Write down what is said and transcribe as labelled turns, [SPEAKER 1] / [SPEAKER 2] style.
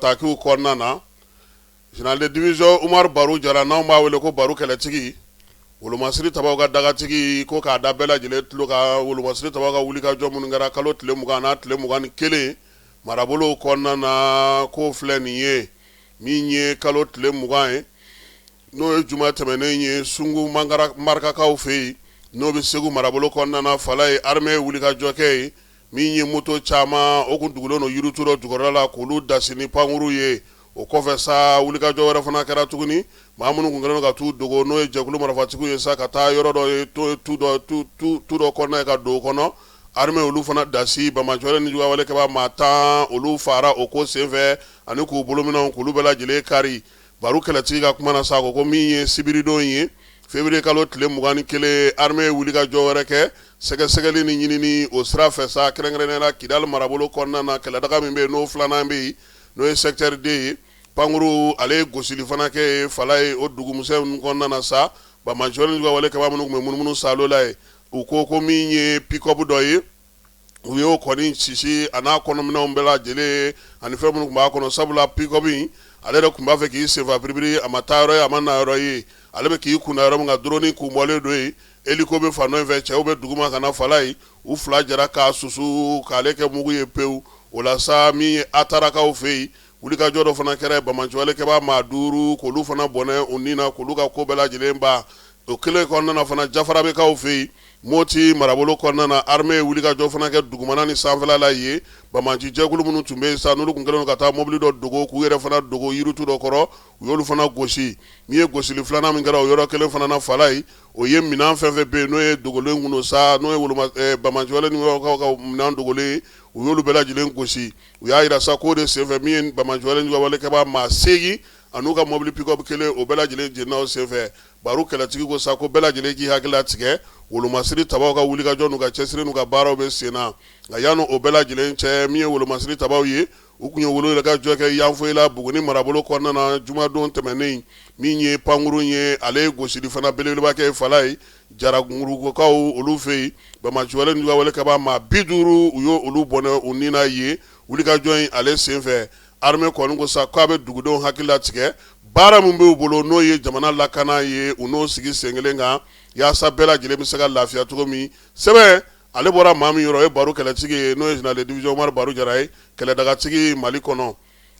[SPEAKER 1] Takiw kɔnɔna na général de division umaru baru jara n'anw b'a wele ko baru kɛlɛtigi wolomasiri tabaw ka dagatigi ko k'a da bɛɛ lajɛlen tulo kan wolomasiri tabaw ka wulikajɔ minnu kɛra kalo tile mugan n'a tile mugan ni kelen marabolow kɔnɔna na ko filɛ nin ye min ye kalo tile mugan ye n'o ye juma tɛmɛnen ye sungu marakakaw fɛ yen n'o bɛ segu marabolo kɔnɔna na fala yen armée ye wulikajɔ kɛ yen min ye moto caman o kun dogolen don yiritu dɔ jukɔrɔla la k'olu dasi ni pankurun ye o kɔfɛ sa wulikajɔ wɛrɛ fana kɛra tuguni maa minnu kun kɛlen ka t'u dogo n'o ye jɛkulu marafatigiw ye sa ka taa yɔrɔ dɔ ye to tu dɔ kɔnɔna yen ka don o kɔnɔ armée olu fana dasi banbaanci ni juguwalekɛbaa maa tan olu fara o ko senfɛ ani k'u bolominɛnw k'olu bɛɛ lajɛlen kari baru kɛlɛtigi ka kuma na sa ko ko min ye sibiridon ye février kalo tile mugan ni kelen armée ye wulikajɔ wɛrɛ kɛ sɛgɛsɛgɛli ni ɲinini o sira fɛ sa kɛrɛnkɛrɛnnenya la kidali marabolo kɔnɔna na kɛlɛdaga min bɛ yen n'o filanan bɛ yen n'o ye secteur deux ye pankurun ale ye gosili fana kɛ yen fala yen o dugumuso in kɔnɔna na sa banbaanciya walekɛbaa minnu kun bɛ munumunu salo la yen u ko ko min ye pick-up dɔ ye u y'o kɔni sisi a n'a kɔnɔminɛnw bɛɛ lajɛlen ani fɛn minnu tun b'a kɔnɔ sabula pick-up in ale yɛrɛ tun b'a fɛ k'i senfa biribiri a ma taa yɔrɔ ye a ma na yɔrɔ ye ale bɛ k'i kunda yɔrɔ min kan drone kun bɔlen don yen hélico bɛ fan dɔ in fɛ cɛw bɛ duguma ka na fala yen u fila jɛra k'a susu k'ale kɛ mugu ye pewu o la sa min ye atarakaw fɛ yen wulikajɔ dɔ fana kɛra banbaanci walekɛbaa maa duuru k'olu fana bɔnɛ u ni na k'olu ka ko bɛɛ lajɛlen ban O kelen kɔnɔna na fana jafarabɛkaw fɛ yen moti marabolo kɔnɔna armée ye wulikajɔ fana kɛ dugumana ni sanfɛla la yen banbaanci jɛkulu minnu tun bɛ yen sa n'olu tun kɛlen ka taa mobili dɔ dogo k'u yɛrɛ fana dogo yiritu dɔ kɔrɔ u y'olu fana gosi min ye gosili filanan min kɛra o yɔrɔ kelen fana na fala yen o ye minɛn fɛn fɛn bɛ yen n'o ye dogolen kun don sa n'o ye banbaanci ninnu ka minɛn dogolen u y'olu bɛɛ lajɛlen gosi u y'a jira sa k'o de senfɛ min ye banbaanci walekɛbaa maa segingin an'u ka mobili pick-up kelen o bɛɛ lajɛlen jeninna o senfɛ baru kɛlɛtigi ko sa ko bɛɛ lajɛlen k'i hakili latigɛ wolomasiri tabaw ka wulikajɔ n'u ka cɛsiri n'u ka baaraw bɛ sen na nka yanni o bɛɛ lajɛlen cɛ min ye wolomasiri tabaw ye u kun ye wulikajɔ kɛ yanfoyila buguni marabolo kɔnɔna na jumadon tɛmɛnen min ye pankurun ye ale ye gosili fana belebeleba kɛ fala yen jarangurukaw olu fɛ yen banbaanci walekɛbaa maa bi duuru u y'olu bɔnɛ u ni na yen wulikajɔ in ale senfɛ Armée kɔni ko sa k'a bɛ dugudenw hakili latigɛ baara min b'u bolo n'o ye jamana lakana ye u n'o sigi senkelen kan yaasa bɛɛ lajɛlen bɛ se ka lafiya cogo min sɛbɛn ale bɔra maa min yɔrɔ o ye baru kɛlɛtigi ye n'o ye général de division Umaru Baru Jara ye kɛlɛdagatigi Mali kɔnɔ.